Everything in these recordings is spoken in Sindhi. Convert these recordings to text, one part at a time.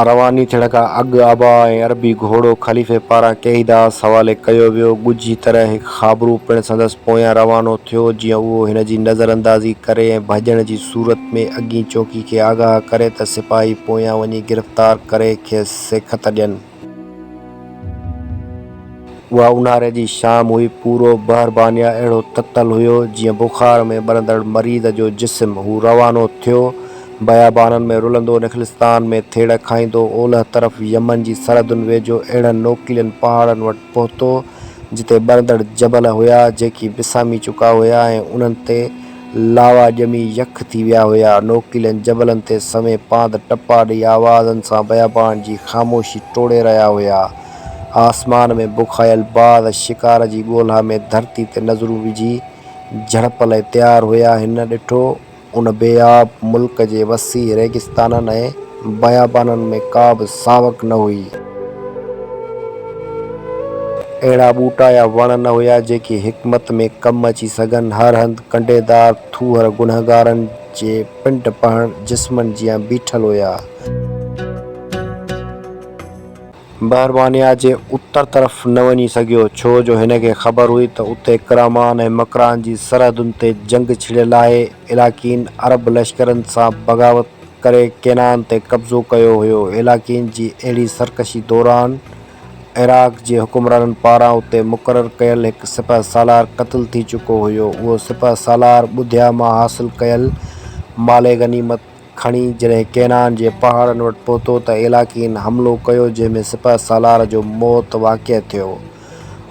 رواني ٿيڻ کان اڳ ابا ۽ عربي گهوڙو خليفي پاران ڪئي داس حوالي ڪيو ويو. ڳجهي طرح هڪ خابرو پڻ سندس پويان روانو ٿيو، جيئن اهو هن جي نظر اندازي ڪري ۽ ڀڄڻ جي صورت ۾ اڳين چوڪي کي آگاهه ڪري ته سپاهي پويان وڃي گرفتار ڪري کيس سيکت ڏين. اها اونهاري جي شام هئي. پورو بحر بانيا اهڙو تتل هيو، جيئن بخار ۾ ٻرندڙ مريض جو جسم. هو روانو ٿيو. بيابانن ۾ رلندو نخلستان ۾ ٿيڙ کائيندو اولهه طرف يمن جي سرحدن ويجهو اهڙن نوڪيلن پهاڙن وٽ پهتو جتي ٻرندڙ جبل هيا جيڪي وسامي چڪا هيا ۽ انهن تي لاوا ڄمي يخ ٿي ويا هيا نوڪيلن جبلن تي سوين پاند ٽپا ڏئي آوازن سان بيابان جي خاموشي ٽوڙي رهيا هيا آسمان ۾ بکايل باز شڪار جي ڳولها ۾ ڌرتي تي نظرون وجهي جهڙپ لئي تيار هيا هن ڏٺو ان بي آب ملڪ جي وسيع ريگستانن ۽ بيابانن ۾ ڪا به ساوڪ نه هئي. اهڙا ٻوٽا يا وڻ نه هيا، جيڪي حڪمت ۾ ڪم اچي سگهن. هر هنڌ ڪنڊيدار ٿوهر گنهگارن جي پنڊ پهڻ جسمن جيان بيٺل هيا. بحرمانيا جي اتر طرف نه وڃي سگهيو، ڇو جو هن کي خبر هئي ته اتي ڪرامان ۽ مڪران جي سرحدن تي جنگ ڇڙيل آهي، علاقين عرب لشڪرن سان بغاوت ڪري ڪينان تي قبضو ڪيو هيو، علاقين جي اهڙي سرڪشي دوران عراق جي حڪمرانن پاران اتي مقرر ڪيل هڪ سپهه سالار قتل ٿي چڪو هيو، اهو سپهه سالار ٻڌيا مان حاصل ڪيل مال غنيمت. کڻي جڏهن ڪينان جي پهاڙن وٽ پهتو ته عيلاقين حملو ڪيو جنهن ۾ سپهه سالار جو موت واقع ٿيو.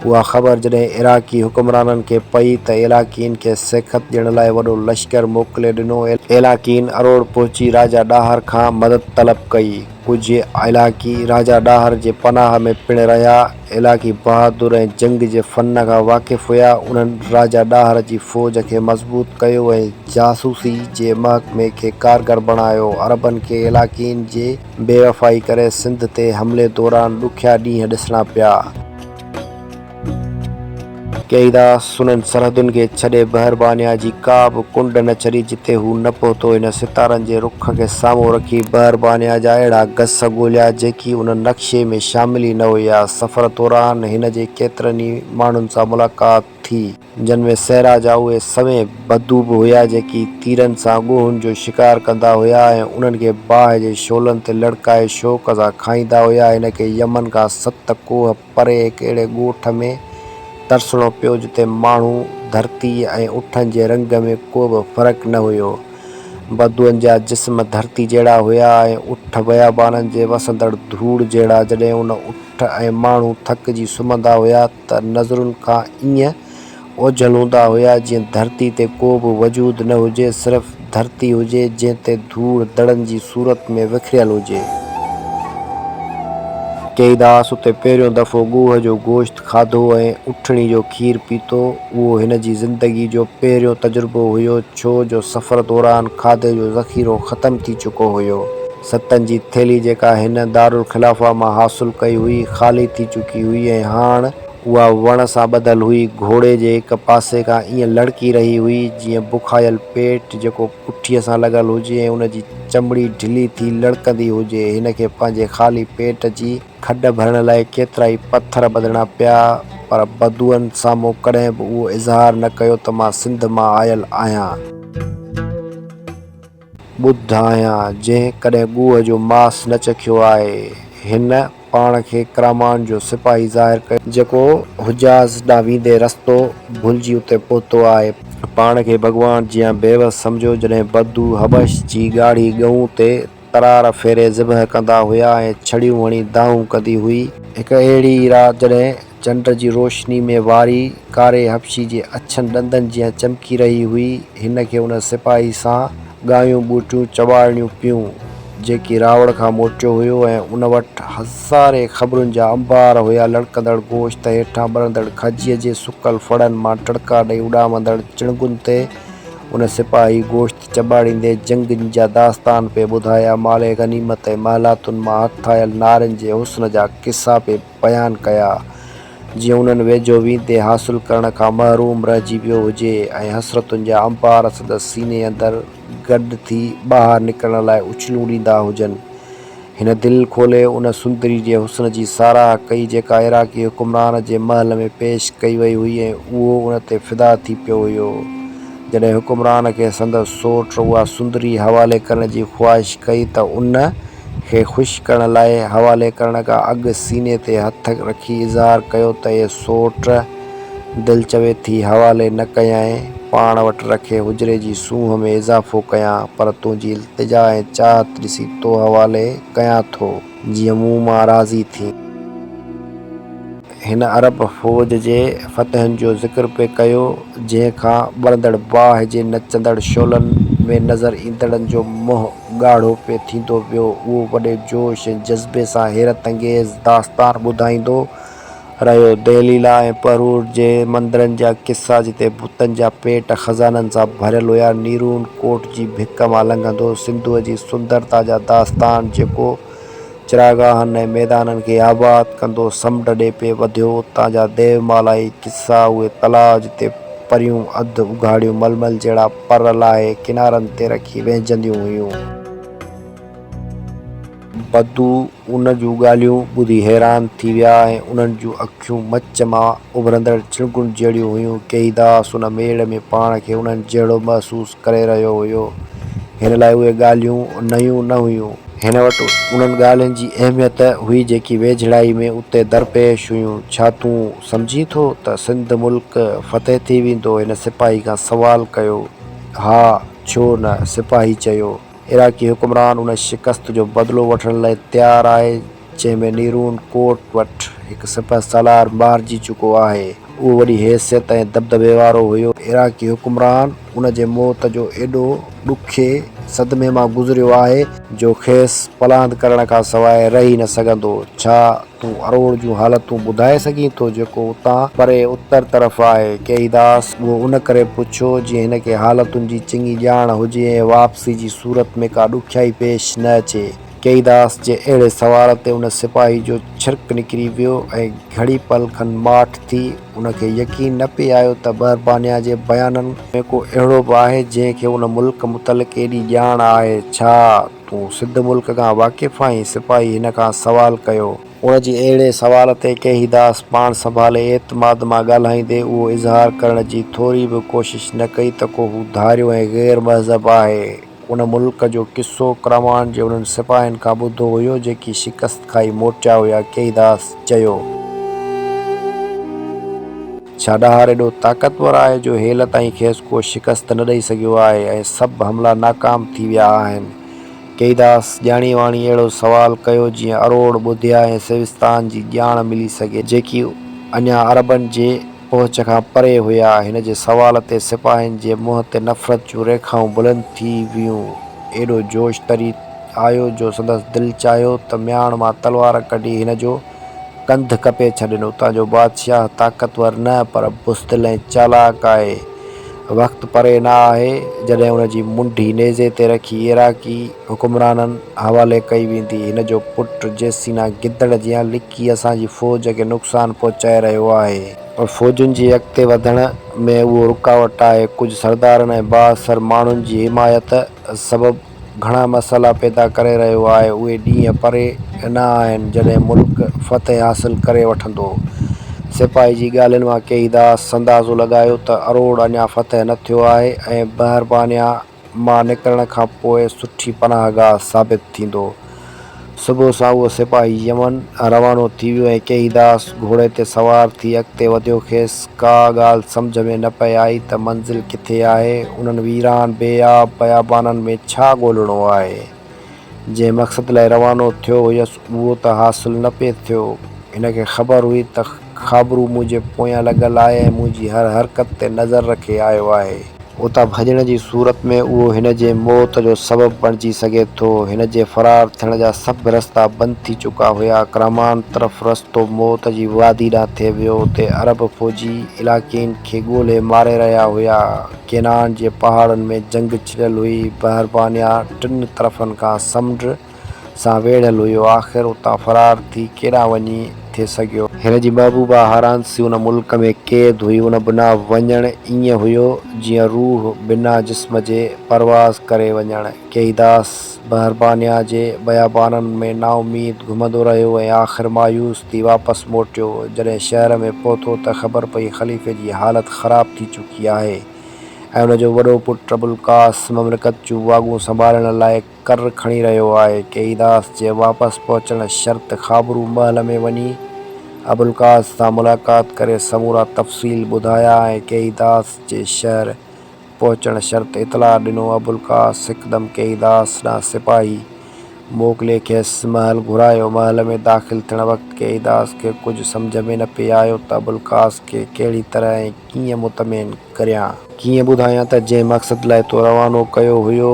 اها خبر جڏهن عراقي حڪمرانن کي پئي ته عيلاقين کي سيکت ڏيڻ لاء وڏو لشڪر موڪلي ڏنو. عيلاقين اروڙ پهچي راجا ڏاهر کان مدد طلب ڪئي. ڪجهه عيلاقي راجا ڏاهر جي پناهه ۾ پڻ رهيا. علاقي بهادر ۽ جنگ جي فن کان واقف هيا. انهن راجا ڏاهر جي فوج کي مضبوط ڪيو ۽ جاسوسي جي محڪمي کي ڪارگر بڻايو. عربن کي علاقين جي بيوفائي ڪري سنڌ تي حملي دوران ڏکيا ڏينهن ڏسڻا پيا. قيدا سنن سرحدن کي ڇڏي بحر بانيا جي ڪا به ڪنڊ نه ڇڏي جتي هو نه پهتو هن ستارن جي رخ کي سامهون رکي بحر بانيا جا اهڙا گس ڳوليا جيڪي ان نقشي ۾ شامل ئي نه هيا سفر دوران هن جي ڪيترن ئي ماڻهن سان ملاقات ٿي جن ۾ صحرا جا اهي سوين بدو به هيا جيڪي تيرن سان ڳوهن جو شڪار ڪندا هيا ۽ انهن کي باهه جي شعلن تي لڙڪائي شوق سان کائيندا هيا هن کي يمن کان ست ڪوهه پري هڪ اهڙي ڳوٺ ۾ ترسڻو پيو جتي ماڻهو، ڌرتي ۽ اٺن جي رنگ ۾ ڪو به فرق نه هيو. بدوئن جا جسم ڌرتي جهڙا هيا ۽ اٺ بيابانن جي وسندڙ ڌوڙ جهڙا. جڏهن ان اٺ ۽ ماڻهو ٿڪجي سمهندا هيا ته نظرن کان ايئن اوجهل هوندا هيا جيئن ڌرتي تي ڪو به وجود نه هجي صرف ڌرتي هجي جنهن تي ڌوڙ دڙن جي صورت ۾ وکريل هجي. ڪيئيداس اتي پهريون دفعو ڳوهه جو گوشت کاڌو ۽ اٺڻي جو کير پيتو. اهو هن جي زندگي جو پهريون تجربو هيو ڇو جو سفر دوران کاڌي جو ذخيرو ختم ٿي چڪو هيو. ستن جي ٿيلهي جيڪا هن دارالخلافه مان حاصل ڪئي هئي خالي ٿي چڪي هئي ۽ هاڻ. اها وڻ سان ٻڌل هئي، گهوڙي جي هڪ پاسي کان ائين لڙڪي رهي هئي، جيئن بکايل پيٽ جيڪو پٺيء سان لڳل هجي ۽ ان جي چمڙي ڍلي ٿي لڙڪندي هجي. هن کي پنهنجي خالي پيٽ جي کڏ ڀرڻ لاء ڪيترائي پٿر ٻڌڻا پيا، پر بدوئن سامهون ڪڏهن به اهو اظهار نه ڪيو ته مان سنڌ مان آيل آهيان. ٻڌايان، جنهن ڪڏهن ڳوء جو ماس نه چکيو آهي. هن پاڻ کي ڪرامان جو سپاهي ظاهر ڪيو. جيڪو حجاز ڏانهن ويندي رستو ڀلجي اتي پهتو آهي. پاڻ کي ڀڳوان جيان بيوس سمجهيو. جڏهن بدو حبش جي ڳاڙهي ڳئون تي ترار ڦيري ذبح ڪندا هيا ۽ ڇڙيون هڻي دانهون ڪندي هئي. هڪ اهڙي ئي رات جڏهن چنڊ جي روشني ۾ واري ڪاري حبشي جي اڇن ڏندن جيان چمڪي رهي هئي. هن کي ان سپاهي سان ڳايون ٻوٽيون چواڙڻيون پيون، جيڪي راوڙ کان موٽيو هيو ۽ ان وٽ هزارين خبرن جا انبار هيا، لڙڪندڙ گوشت هيٺان ٻرندڙ کجيء جي سڪل ڦڙن مان ٽڙڪا ڏئي اڏامندڙ چڻگن تي. ان سپاهي گوشت چٻاڙيندي جنگين جا داستان پئي ٻڌايا، مال غنيمت ۽ محلاتن مان هٿ آيل نارين جي حسن جا قصا پئي. بيان ڪيا، جيئن انهن ويجهو ويندي حاصل ڪرڻ کان محروم رهجي ويو هجي ۽ حسرتن جا انبار سندس سيني اندر گڏ ٿي ٻاهر نڪرڻ لاء اڇلون ڏيندا هجن. هن دل کولي ان سندري جي حسن جي ساراهه ڪئي جيڪا عراقي حڪمران جي محل ۾ پيش ڪئي وئي هئي ۽ اهو ان تي فدا ٿي پيو هيو. جڏهن حڪمران کي سندس سوٽ اها سندري حوالي ڪرڻ جي خواهش ڪئي ته ان کي خوش ڪرڻ لاء حوالي ڪرڻ کان اڳ سيني تي هٿ رکي اظهار ڪيو ته اي سوٽ! دل چوي ٿي حوالي نه ڪيانء، پاڻ وٽ رکي حجري جي سونهن ۾ اضافو ڪيان، پر تنهنجي التجا ۽ چاهت ڏسي تو حوالي ڪيان ٿو، جيئن مون مان راضي ٿين. هن عرب فوج جي فتحن جو ذڪر پئي ڪيو، جنهن کان ٻرندڙ باهه جي نچندڙ شعلن ۾ نظر ايندڙن جو منهن ڳاڙهو پئي ٿيندو ويو. اهو وڏي جوش ۽ جذبي سان حيرت انگيز داستان ٻڌائيندو رهيو. دهلي لاء ۽ پرور جي مندرن جا قصا، جتي بتن جا پيٽ خزانن سان ڀريل هيا، نيرون ڪوٽ جي ڀڪ مان لنگهندو سنڌوء جي سندرتا جا داستان، جيڪو چراگاهن ۽ ميدانن کي آباد ڪندو سمنڊ ڏي پئي وڌيو، اتان جا ديومالائي قصا، اهي تلاء جتي پريون اڌ اگهاڙيون ململ جهڙا پر لاهي ڪنارن تي رکي وهنجنديون هيون. بدو ان جون ڳالهيون ٻڌي حيران ٿي ويا ۽ انهن جون اکيون مچ مان اڀرندڙ چڻگن جهڙيون هيون. ڪيئي داس ان ميڙ ۾ پاڻ کي انهن جهڙو محسوس ڪري رهيو هيو. هن لاء اهي ڳالهيون نيون نه هيون. هن وٽ انهن ڳالهين جي اهميت هئي جيڪي ويجهڙائي ۾ اتي درپيش هيون. ڇا تون سمجهين ٿو ته سنڌ ملڪ فتح ٿي ويندو؟ هن سپاهي کان سوال ڪيو. ها، ڇو نه؟ سپاهي چيو. عراقي حڪمران ان شڪست جو بدلو وٺڻ لاء تيار آهي. جنهن ۾ نيرون ڪوٽ وٽ هڪ سپهه سالار مارجي چڪو آهي. اهو وڏي حيثيت ۽ دٻدٻي وارو هيو. عراقي حڪمران ان جي موت جو ايڏو ڏکي صدمي مان گذريو آهي، جو کيس پلاند ڪرڻ کان سواء رهي نه سگهندو. ڇا تون اروڙ جون حالتون ٻڌائي سگهين ٿو، جيڪو اتان پري اتر طرف آهي؟ ڪيئيداس اهو ان ڪري پڇيو، جيئن هن کي حالتن جي چڱي ڄاڻ هجي ۽ واپسي جي صورت ۾ ڪا ڏکيائي پيش نه اچي. ڪيئيداس جي اهڙي سوال تي ان سپاهي جو ڇرڪ نڪري ويو ۽ گهڙي پل کن ماٺ ٿي. ان کي يقين نه پئي آيو ته بربانيا جي بيانن ۾ ڪو اهڙو به آهي جنهن کي ان ملڪ متعلق ايڏي ڄاڻ آهي. ڇا تون سنڌ ملڪ کان واقف آهين؟ سپاهي هن کان سوال ڪيو. ان جي اهڙي سوال تي ڪيئيداس پاڻ سنڀالي اعتماد مان ڳالهائيندي اهو اظهار ڪرڻ جي ٿوري به ڪوشش نه ڪئي ته ڪو هو ڌاريو ۽ غير مهذب آهي. ان ملڪ جو قصو ڪرمان جي انهن سپاهين کان ٻڌو هيو، جيڪي شڪست کائي موٽيا هيا، ڪيئيداس چيو. ڇا ڏاهر ايڏو طاقتور آهي، جو هيل تائين کيس ڪو شڪست نه ڏئي سگهيو آهي ۽ سڀ حملا ناڪام ٿي ويا آهن؟ ڪيئيداس ڄاڻي واڻي اهڙو سوال ڪيو، جيئن اروڙ، ٻوڌيا ۽ سيوستان جي ڄاڻ ملي سگهي، جيڪي اڃا عربن جي. پهچ کان پري هيا. هن جي سوال تي سپاهين جي منهن تي نفرت جون ريکائون بلند ٿي ويون. ايڏو جوش تري آيو جو سندس دل چاهيو ته مياڻ مان تلوار ڪڍي هن جو ڪنڌ ڪپي ڇڏين. اتان جو بادشاهه طاقتور نه پر بزدل ۽ چالاڪ آهي. وقت پري نه آهي جڏهن ان جي منڍي نيزي تي رکي عراقي حڪمرانن حوالي ڪئي ويندي. هن جو پٽ جيسينا گدڙ جيان لڪي ڪي اسان جي فوج کي نقصان پهچائي رهيو آهي. پر فوجن جي اڳتي وڌڻ ۾ اهو رڪاوٽ آهي. ڪجهه سردارن ۽ بااثر ماڻهن جي حمايت سبب گهڻا مسئلا پيدا ڪري رهيو آهي. اهي ڏينهن پري نه آهن جڏهن ملڪ فتح حاصل ڪري وٺندو. سپاهي جي ڳالهين مان ڪيهيداس سندازو لڳايو ته اروڙ اڃا فتح نه ٿيو آهي ۽ بهربانيا مان نڪرڻ کان پوء سٺي پناهگاهه ثابت ٿيندو. صبح سان اهو سپاهي يمن روانو ٿي ويو ۽ ڪيهيداس گهوڙي تي سوار ٿي اڳتي وڌيو. کيس ڪا ڳالهه سمجهه ۾ نه پئي آئي ته منزل ڪٿي آهي؟ انهن ويران بي آب بيابانن ۾ ڇا ڳولڻو آهي؟ جنهن مقصد لاء روانو ٿيو هيس اهو ته حاصل نه پئي ٿيو. هن کي خبر هئي ته خابرو منهنجي پويان لڳل آهي ۽ منهنجي هر حرڪت تي نظر رکي آيو آهي. اتان ڀڄڻ جي صورت ۾ اهو هن جي موت جو سبب بڻجي سگهي ٿو. هن جي فرار ٿيڻ جا سڀ رستا بند ٿي چڪا هيا. ڪرمان طرف رستو موت جي وادي ڏانهن ٿي ويو. اتي عرب فوجي علاقين کي ڳولهي ماري رهيا هيا. ڪينان جي پهاڙن ۾ جنگ ڇڙيل هئي. بحربانيا ٽن طرفن کان سمنڊ سان ويڙهيل هيو. آخر اتان فرار ٿي ڪيڏانهن وڃي ٿي سگهيو؟ هن جي محبوبا هارانسي ان ملڪ ۾ قيد هئي. ان بنا وڃڻ ائين هيو جيئن روح بنا جسم جي پرواز ڪري وڃڻ. ڪيئيداس. بربانيا جي بيابانن ۾ نااميد گهمندو رهيو ۽ آخر مايوس ٿي واپس موٽيو. جڏهن شهر ۾ پهتو ته خبر پئي خليفي جي حالت خراب ٿي چڪي آهي ۽ ان جو وڏو پٽ ابوالقاس مملڪت جون واڳون سنڀالڻ لاء ڪر کڻي رهيو آهي. ڪيئيداس جي واپس پهچڻ شرط خابرو محل ۾ وڃي ابوالقاس سان ملاقات ڪري سمورا تفصيل ٻڌايا ۽ ڪيئيداس جي شهر، پهچڻ شرط اطلاع ڏنو. ابوالقاس هڪدم ڪيئيداس ڏانهن سپاهي موڪلي کيس محل گهرايو. محل ۾ داخل ٿيڻ وقت ڪيئيداس کي ڪجهه سمجهه ۾ نه پئي آيو ته ابوالقاس کي ڪهڙي طرح ۽ ڪيئن مطمئن ڪريان. ڪيئن ٻڌايان ته جنهن مقصد لاء تو روانو ڪيو هيو،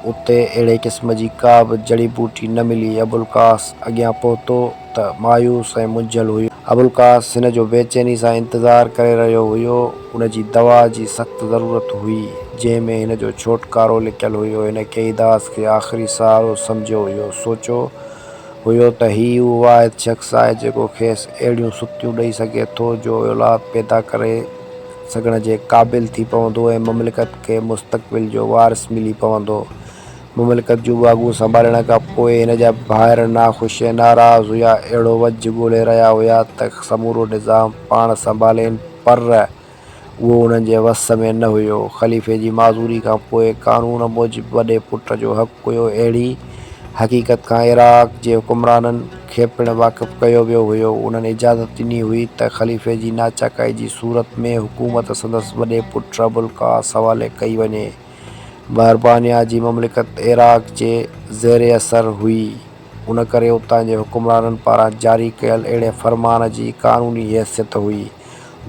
اتي اهڙي قسم جي ڪا به جڙي ٻوٽي نه ملي. ابوالقاس اڳيان پهتو ته مايوس ۽ منجهيل هيو. ابوالقاس هن جو بيچيني سان انتظار ڪري رهيو هيو. ان جي دوا جي سخت ضرورت هئي، جنهن ۾ هن جو ڇوٽڪارو لڪيل هيو. هن قيداس کي آخري سهارو سمجهيو هيو. سوچيو هيو ته هي ئي اهو واحد شخص آهي، جيڪو کيس اهڙيون سڪتيون ڏئي سگهي ٿو، جو اولاد پيدا ڪري سگهڻ جي قابل ٿي پوندو ۽ مملڪت کي مستقبل جو وارث ملي پوندو. مملڪت جون ٻاگهون سنڀالڻ کان پوء هن جا ڀائر ناخوش ۽ ناراض هيا، اهڙو وجهه ڳولي رهيا هيا ته سمورو نظام پاڻ سنڀالين پر اهو انهن جي وس ۾ نه هيو. خليفي جي معذوري کان پوء قانون موجب وڏي پٽ جو حق هيو، اهڙي حقيقت کان عراق جي حڪمرانن کي پڻ واقف ڪيو ويو هيو، انهن اجازت ڏني هئي ته خليفي جي ناچاڪائي جي صورت ۾ حڪومت سندس وڏي پٽ ابوالقاس حوالي ڪئي وڃي. برطانيا جي مملڪت عراق جي زير اثر هئي، ان ڪري اتان جي حڪمرانن پاران جاري ڪيل اهڙي فرمان جي قانوني حيثيت هئي،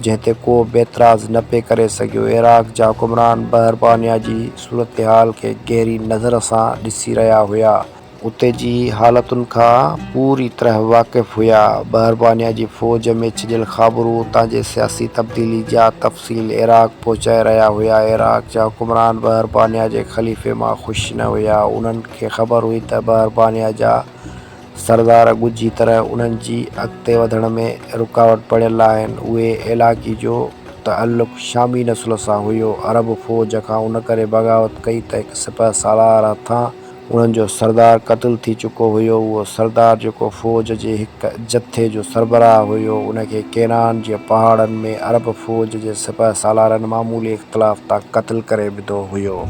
جنهن تي ڪو به اعتراض نه پئي ڪري سگهيو. عراق جا حڪمران برطانيا جي صورتحال کي گهري نظر سان ڏسي رهيا هيا. اتي جي حالتن کان پوري طرح واقف هيا. بهربانيا جي فوج ۾ ڇڄيل خابرو اتان جي سياسي تبديلي جا تفصيل عراق پهچائي رهيا هيا. عراق جا حڪمران بهربانيا جي خليفي مان خوش نه هيا. انهن کي خبر هئي ته بهربانيا جا سردار ڳجهي طرح انهن جي اڳتي وڌڻ ۾ رڪاوٽ بڻيل آهن. اهي علائقي جو تعلق شامي نسل سان هيو. عرب فوج کان ان ڪري بغاوت ڪئي ته هڪ سپهه سالار هٿان انهن جو سردار قتل ٿي چڪو هيو. اهو سردار جيڪو فوج جي هڪ جٿي جو سربراهه هيو، ان کي ڪينان جي پهاڙن ۾ عرب فوج جي سپهه سالارن معمولي اختلاف تان قتل ڪري وڌو هيو.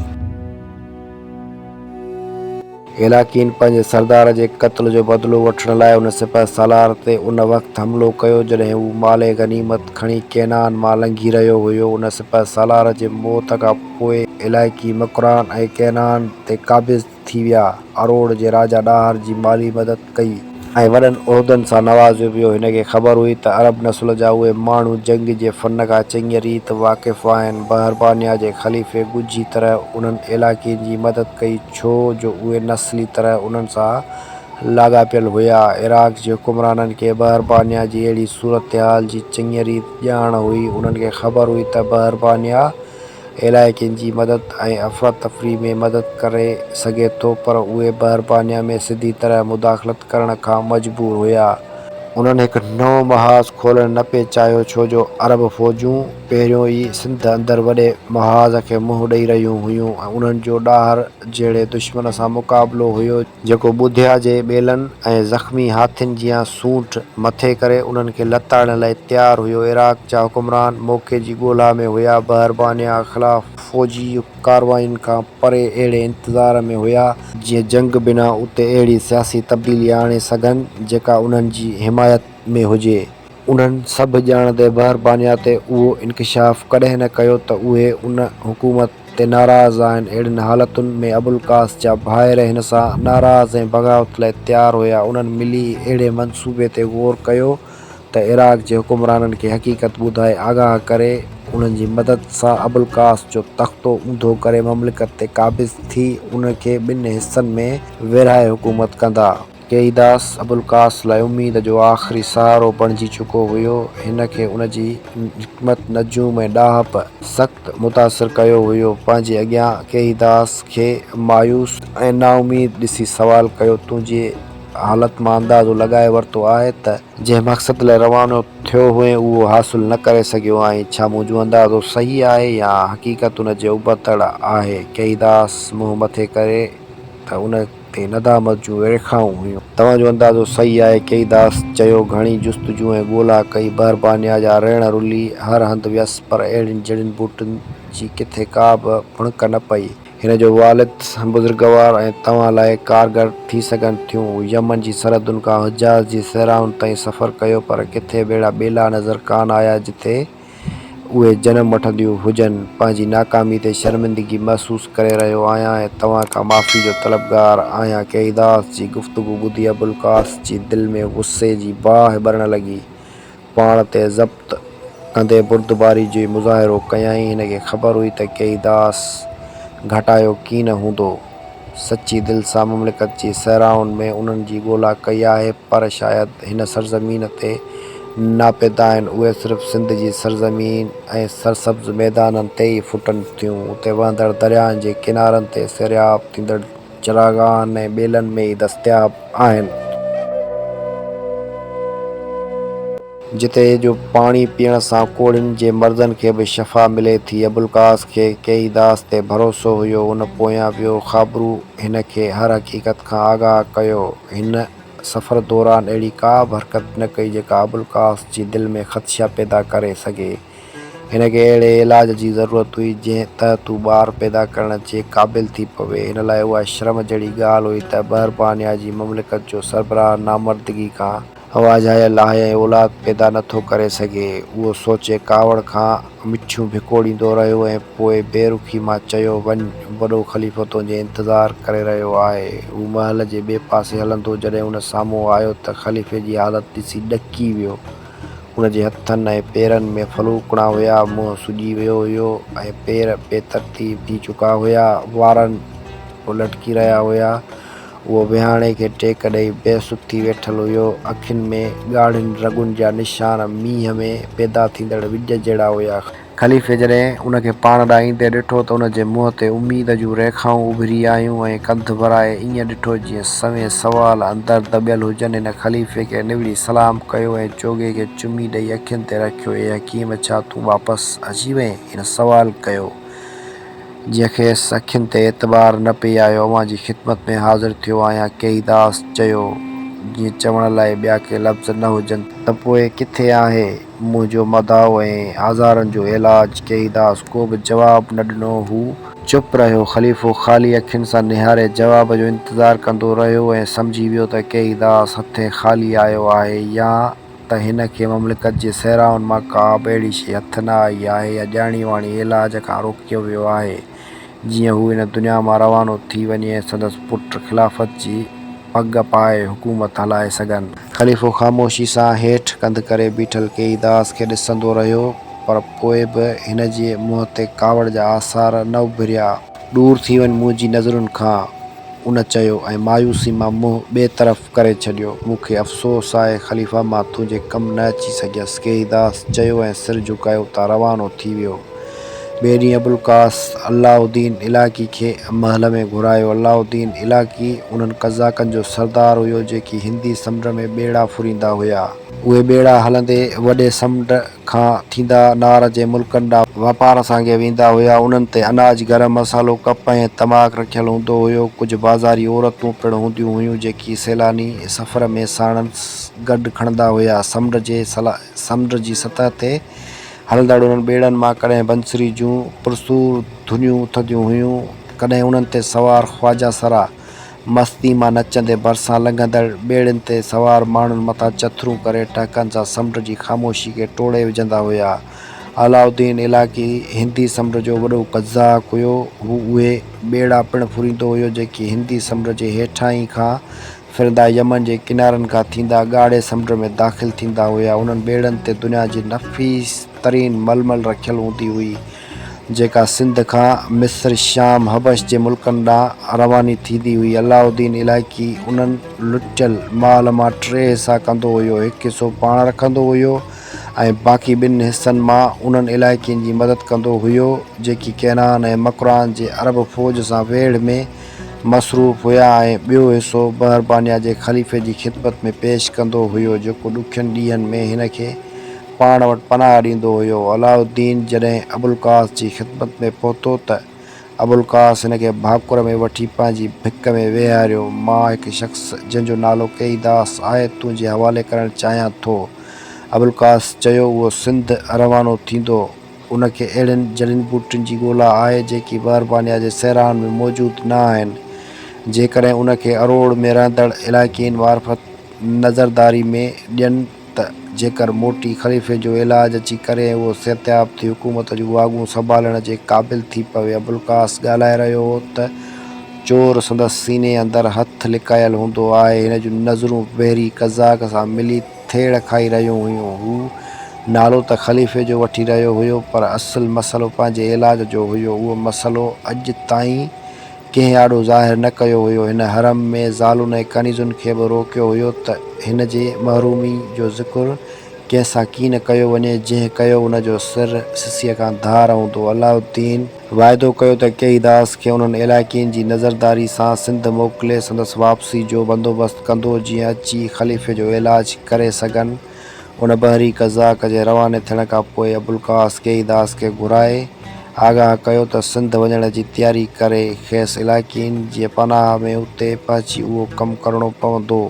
هيلاڪين پنهنجي سردار جي قتل جو بدلو وٺڻ لاء ان سپهه سالار تي ان وقت حملو ڪيو، جڏهن هو مال غنيمت کڻي ڪينان مان لنگهي رهيو هيو. ان سپهه سالار جي موت کان پوء علائقي مڪران ۽ ڪينان تي قابض ٿي ويا. اروڙ جي راجا ڏاهر جي مالي مدد ڪئي. ۽ وڏن عهدن سان نوازيو ويو. هن کي خبر هئي ته عرب نسل جا اهي ماڻهو جنگ جي فن کان چڱيء ريت واقف آهن. بحربانيا جي خليفي ڳجهي طرح انهن علائقين جي مدد ڪئي، ڇو جو اهي نسلي طرح انهن سان لاڳاپيل هيا. عراق جي حڪمرانن کي بحربانيا جي اهڙي صورتحال جي چڱيء ريت ڄاڻ هئي. انهن کي خبر هئي ته بحربانيا. الائي ڪن جي مدد ۽ افراتفري ۾ مدد ڪري سگهي ٿو پر اهي بحربانيا ۾ سڌي طرح مداخلت ڪرڻ کان مجبور هيا. انهن هڪ نئون محاذ کولڻ نه پئي چاهيو ڇو جو عرب فوجون پهريون ئي سنڌ اندر وڏي محاذ کي منهن ڏئي رهيون هيون ۽ انهن جو ڏاهر جهڙي دشمن سان مقابلو هيو جو جيڪو ٻڌيا جي ٻيلن ۽ زخمي هاٿين جيان سونٺ مٿي ڪري انهن کي لتاڙڻ لاء تيار هيو. عراق جا حڪمران موقعي جي ڳولا ۾ هيا، بحربانيا خلاف فوجي ڪارواين کان پري اهڙي انتظار ۾ هيا، جيئن جنگ بنا اتي اهڙي سياسي تبديلي آڻي سگهن، جيڪا انهن جي حمايت ۾ هجي. انهن سڀ ڄاڻ تي بحر بانيا تي اهو انڪشاف ڪڏهن نه ڪيو ته اهي ان حڪومت تي ناراض آهن. اهڙين حالتن ۾ ابوالقاس جا ڀائر هن سان ناراض ۽ بغاوت لاء تيار هيا. انهن ملي اهڙي منصوبي تي غور ڪيو ته عراق جي حڪمرانن کي حقيقت ٻڌائي آگاهه ڪري انهن جي مدد سان ابوالقاس جو تختو اونڌو ڪري مملڪت تي قابض ٿي ان کي ٻن حصن ۾ ورهائي حڪومت ڪندا. قيداس ابوالقاس لاء اميد جو آخري سهارو بڻجي چڪو هيو. هن کي ان جي نڪمت، نجوم ۽ ڏاهپ سخت متاثر ڪيو هيو. پنهنجي اڳيان قيداس کي مايوس ۽ نااميد ڏسي سوال ڪيو، تون جي حالت مان اندازو لڳائي ورتو آهي ته، جنهن مقصد لاء روانو ٿيو هئين اهو حاصل نه ڪري سگهيو آهين، ڇا منهنجو اندازو صحيح آهي يا حقيقت ان جي ابتڙ آهي؟ قيداس منهن مٿي ڪري ته ان. ۽ ندامت جون ريکائون هيون. توهان جو اندازو صحيح آهي ڪئي داس چيو گهڻي جستجو ۽ ڳولا ڪئي بهربانيا جا ريڻ رلي هر هنڌ ويس پر اهڙين جڙين ٻوٽن جي ڪٿي ڪا به ڀڻڪ نه پئي. هن جو والد بزرگوار ۽ توهان لاء ڪارگر ٿي سگهن ٿيون. يمن جي سرحدن کان حجاز جي صحرائن تائين سفر ڪيو پر ڪٿي به اهڙا ٻيلا نظر ڪانه آيا جتي اهي جنم وٺنديون هجن. پنهنجي ناڪامي تي شرمندگي محسوس ڪري رهيو آهيان ۽ توهان کان معافي جو طلبگار آهيان. قيداس جي گفتگو ٻڌي ابوالقاس جي دل ۾ غصي جي باهه ٻرڻ لڳي. پاڻ تي ضبط ڪندي بردباري جي مظاهرو ڪيائين. هن کي خبر هئي ته قيداس گهٽايو ڪين هوندو. سچي دل سان مملڪت جي صحرائن ۾ انهن جي ڳولا ڪئي آهي، پر شايد هن سرزمين تي ناپيدا آهن، اهي صرف سنڌ جي سرزمين ۽ سرسبز ميدانن تي ئي ڦٽن ٿيون، اتي وهندڙ درياهن جي ڪنارن تي سيراب ٿيندڙ چراگاهن ۽ ٻيلن ۾ ئي دستياب آهن. جتي جو پاڻي پيئڻ سان ڪوڙهين جي مرضن کي به شفا ملي ٿي. ابوالقاس کي ڪيئي داس تي ڀروسو هيو. هن پويان ويو. خابرو هن کي هر حقيقت کان آگاهه ڪيو. هن سفر دوران اهڙي ڪا به حرڪت نه ڪئي جيڪا ابوالقاس جي دل ۾ خدشا پيدا ڪري سگهي. هن کي اهڙي علاج جي ضرورت هئي جنهن تحت هو ٻار پيدا ڪرڻ جي قابل ٿي پوي. هن لاء اها شرم جهڙي ڳالهه هئي ته بهربانيا جي مملڪت جو سربراهه نامردگي کان. هوا جهايل آهي ۽ اولاد پيدا نه ٿو ڪري سگهي. اهو سوچي ڪاوڙ کان مٺيون ڀڪوڙيندو رهيو ۽ پوء بي رخي مان چيو، وڃ، وڏو خليفو تنهنجي انتظار ڪري رهيو آهي. هو محل جي ٻئي پاسي هلندو جڏهن هن سامهون آيو ته خليفي جي حالت ڏسي ڏڪي ويو. هن جي هٿن ۽ پيرن ۾ ڦلوڪڻا هيا، منهن سڄي ويو هيو ۽ پير بي ترتيب ٿي چڪا هيا، وارن به لٽڪي رهيا هيا. اهو وهاڻي کي ٽيڪ ڏئي بي سڌ ٿي ويٺل هيو. اکين ۾ ڳاڙهين رڳن جا نشان مينهن ۾ پيدا ٿيندڙ وڄ جهڙا هيا. خليفي جڏهن ان کي پاڻ ڏانهن ايندي ڏٺو ته ان جي منهن تي اميد جون ريکائون اڀري آيون ۽ ڪنڌ ڀرائي ائين ڏٺو جيئن سوين سوال اندر دٻيل هجن. هن خليفي کي نوڙي سلام ڪيو ۽ چوغي کي چمي ڏئي اکين تي رکيو. اي حڪيم! ڇا تون واپس اچي وئين؟ هن سوال ڪيو. جنهن کيس اکين تي اعتبار نه پئي آيو، اوهان جي خدمت ۾ حاضر ٿيو آهيان. ڪيئيداس چيو، جيئن چوڻ لاء ٻيا ڪي لفظ نه هجن ته. ته پوء ڪٿي آهي منهنجو مداح ۽ آزارن جو علاج؟ ڪيئيداس ڪو به جواب نه ڏنو. هو. چپ رهيو. خليفو خالي اکين سان نهاري جواب جو انتظار ڪندو رهيو ۽ سمجهي ويو ته ڪيئيداس هٿين خالي آيو آهي يا. ته هن کي مملڪت جي صحرائن مان ڪا به اهڙي شيء هٿ نه آئي آهي يا ڄاڻي واڻي علاج کان روڪيو ويو آهي، جيئن هو هن دنيا مان روانو ٿي وڃي ۽ سندس پٽ خلافت جي پڳ پائي حڪومت هلائي سگهن. خليفو خاموشي سان هيٺ ڪنڌ ڪري بيٺل ڪيئي داس کي ڏسندو رهيو، پر پوء به هن جي منهن تي ڪاوڙ جا آثار نه اڀريا. ڏور ٿي وڃ منهنجي نظرن کان ان چيو ۽ مايوسي مان منهن ٻئي طرف ڪري ڇڏيو. مون کي افسوس آهي خليفه مان تنهنجي ڪم نه اچي سگهيس ڪيئيداس چيو ۽ سر جهڪايو اتان روانو ٿي ويو. ٻئي ڏينهن ابوالقاس الله الدين علاقي کي محل ۾ گهرايو. الله الدين علاقي انهن قزاقن جو سردار هيو جيڪي هندي سمنڊ ۾ ٻيڙا ڦريندا هيا. اهي ٻيڙا هلندي وڏي سمنڊ کان ٿيندا نار جي ملڪن ڏانهن واپار سانگي ويندا هيا. انهن تي اناج، گرم مصالحو، ڪپ ۽ تماڪ رکيل هوندو هيو. ڪجهه بازاري عورتون پڻ هونديون هيون، جيڪي سيلاني سفر ۾ ساڻس گڏ کڻندا هيا. سمنڊ جي سمنڊ جي سطح تي هلندڙ انهن ٻيڙن مان ڪڏهن بنسري جون پرسور ڌنيون اٿنديون هيون، ڪڏهن انهن تي سوار خواجا سرا، مستيء مان نچندي ڀرسان لنگهندڙ ٻيڙين تي سوار ماڻهن مٿان چٿرون ڪري ٽهڪن سان سمنڊ جي خاموشي کي ٽوڙي وجهندا هيا. علاؤالدين الاقي هندي سمنڊ جو وڏو قزاق هيو. هو اهي ٻيڙا پڻ ڦريندو هيو جيڪي هندي سمنڊ جي هيٺاهين کان ڦرندا يمن جي ڪنارن کان ٿيندا ڳاڙهي سمنڊ ۾ داخل ٿيندا هيا. انهن ٻيڙن تي دنيا جي نفيس ترين ململ رکيل هوندي هئي. جيڪا سنڌ کان مصر، شام، حبش جي ملڪن ڏانهن رواني ٿيندي هئي. علاؤ الدين علائقي انهن لٽيل مال مان ٽي حصا ڪندو هيو، هڪ حصو پاڻ رکندو هيو ۽ باقي ٻن حصن مان انهن علائقين جي مدد ڪندو هيو، جيڪي ڪينان ۽ مڪران جي عرب فوج سان ويڙهه ۾ مصروف هيا ۽ ٻيو حصو بحربانيا جي خليفي جي خدمت ۾ پيش ڪندو هيو، جيڪو ڏکين ڏينهن ۾ هن کي پاڻ وٽ پناهه ڏيندو هيو. علاء الدين جڏهن ابوالقاس جي خدمت ۾ پهتو ته ابوالقاس هن کي ڀاڪر ۾ وٺي پنهنجي ڀڪ ۾ ويهاريو. مان هڪ شخص جنهن جو نالو ڪيئي داس آهي تنهنجي حوالي ڪرڻ چاهيان ٿو. ابوالقاس چيو اهو سنڌ روانو ٿيندو. ان کي اهڙين جڙين ٻوٽين جي ڳولا آهي جيڪي بهربانيا جي صحرائن ۾ موجود نه آهن. جيڪڏهن ان کي اروڙ ۾ رهندڙ علائقين معرفت نظرداري ۾ ڏين. ته جيڪر موٽي خليفي جو علاج اچي ڪري ۽ اهو صحتياب ٿي حڪومت جون واڳون سنڀالڻ جي قابل ٿي پوي ابوالقاس ڳالهائي رهيو هو ته چور سندس سيني اندر هٿ لڪايل هوندو آهي هن جون نظرون بحري قزاق سان ملي ٿيڙ کائي رهيون هيون هو نالو ته خليفي جو وٺي رهيو هيو پر اصل مسئلو پنهنجي علاج جو هيو اهو مسئلو اڄ تائين ڪنهن آڏو ظاهر نه ڪيو هيو. هن حرم ۾ زالن ۽ ڪنيزن کي به روڪيو هيو ته هن جي محرومي جو ذڪر ڪنهن سان ڪين ڪيو وڃي، جنهن ڪيو ان جو سر سسيء کان ڌار هوندو. علاء الدين. واعدو ڪيو ته ڪيئيداس کي انهن علائقين جي نظرداري سان سنڌ موڪلي سندس واپسي جو بندوبست ڪندو، جيئن اچي خليفي جو علاج ڪري سگهن. ان بحري قزاق جي رواني ٿيڻ کان پوء ابوالقاس ڪيئيداس کي گهرائي آگاهه ڪيو ته سنڌ وڃڻ جي تياري ڪري کيس علائقين جي پناهه ۾ اتي پهچي اهو ڪم ڪرڻو پوندو.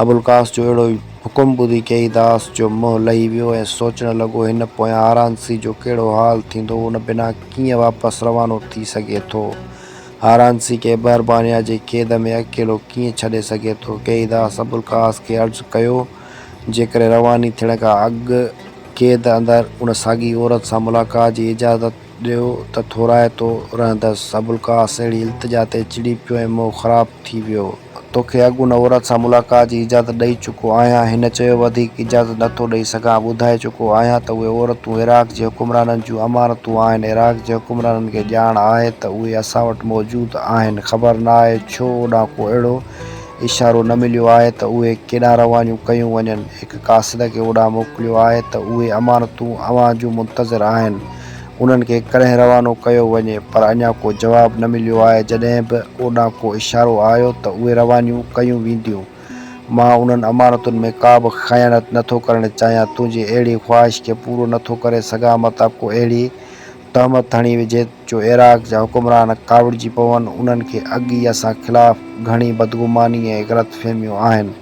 ابوالقاس جو اهڙو حڪم ٻڌي ڪيئيداس جو منهن لهي ويو ۽ سوچڻ لڳو هن پويان هارانسي جو ڪهڙو حال ٿيندو ان بنا ڪيئن واپس روانو ٿي سگهي ٿو هارانسي کي بحربانيا جي قيد ۾ اڪيلو ڪيئن ڇڏي سگهي ٿو ڪيئيداس ابوالقاس کي عرض ڪيو جيڪڏهن رواني ٿيڻ کان اڳ قيد اندر ان ساڳي عورت سان ملاقات جي اجازت ڏيو ته ٿورائتو رهندس. ابوالقاس اهڙي التجا تي چڙي پيو ۽ منهن خراب ٿي ويو. توکي اڳ ان عورت سان ملاقات جي اجازت ڏئي چڪو آهيان. هن چيو، وڌيڪ اجازت نه ٿو ڏئي سگهان. ٻڌائي چڪو آهيان ته اهي عورتون عراق جي حڪمرانن جون امانتون آهن. عراق جي حڪمرانن کي ڄاڻ آهي ته اهي اسان وٽ موجود آهن. خبر ناهي ڇو اوڏانهن ڪو اهڙو اشارو نه مليو آهي ته اهي ڪيڏانهن روانيون ڪيون وڃن. هڪ قاصد کي اوڏانهن موڪليو آهي ته اهي امانتون اوهان جون منتظر آهن. انهن کي ڪڏهن روانو ڪيو وڃي پر اڃا ڪو جواب نه مليو آهي. جڏهن به اوڏانهن ڪو اشارو آيو ته اهي روانيون ڪيون وينديون. مان انهن امانتن ۾ ڪابه خيانت نه ٿو ڪرڻ چاهيان. تنهنجي اهڙي خواهش کي پورو نه ٿو ڪري سگهان متان ڪو اهڙي تهمت هڻي وجهي جو عراق جا حڪمران ڪاوڙجي پون، انهن کي اڳ ئي اسان خلاف گهڻي بدگماني ۽ غلط فهميون آهن.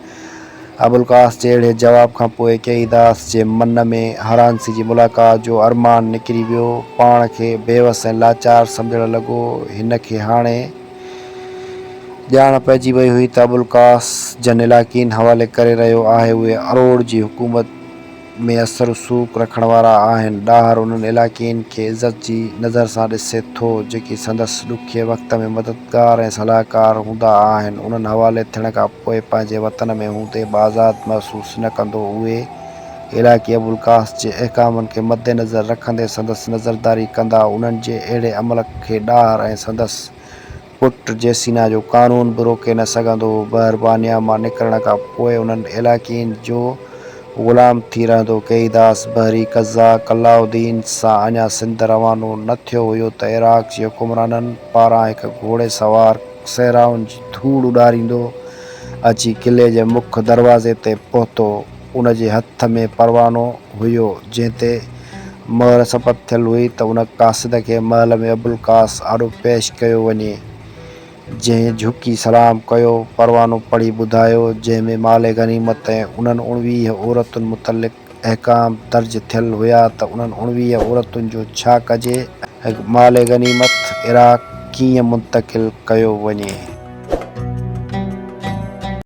ابوالقاس جي اهڙي جواب کان پوء ڪيئيداس جي من ۾ هرانسي جي ملاقات جو ارمان نڪري ويو، پاڻ کي بيوس ۽ لاچار سمجهڻ لڳو، هن کي هاڻي ڄاڻ پئجي وئي هئي ته ابوالقاس جن علاقين حوالي ڪري رهيو آهي اهي اروڙ جي حڪومت. ۾ اثر رسوخ رکڻ وارا آهن، ڏاهر انهن علائقين کي عزت جي نظر سان ڏسي ٿو، جيڪي سندس ڏکيي وقت ۾ مددگار ۽ صلاحڪار هوندا آهن، انهن حوالي ٿيڻ کان پوء پنهنجي وطن ۾ هوندي به آزاد محسوس نه ڪندو، اهي علائقي ابوالقاس جي احڪامن کي مدنظر رکندي سندس نظرداري ڪندا، انهن جي اهڙي عمل کي ڏاهر ۽ سندس پٽ جيسينا جو قانون به روڪي نه سگهندو هو. بهربانيا مان نڪرڻ کان پوء انهن علاقين جو غلام ٿي رهندو. ڪيئيداس بحري قزا قلاء الدين سان اڃا سنڌ روانو نه ٿيو هيو ته عراق جي حڪمرانن پاران هڪ گهوڙي سوار صحرائن جي ڌوڙ اڏاريندو اچي قلعي جي مک دروازي تي پهتو. ان جي هٿ ۾ پروانو هيو، جنهن تي مهر ثبت ٿيل هئي ته ان قاصد کي محل ۾ ابوالقاس آڏو پيش ڪيو وڃي. جنهن جهڪي سلام ڪيو، پروانو پڙهي ٻڌايو، جنهن ۾ مال غنيمت ۽ انهن اڻويهه عورتن متعلق احڪام درج ٿيل هيا ته انهن اڻويهه عورتن جو ڇا ڪجي ۽ مال غنيمت عراق ڪيئن منتقل ڪيو وڃي.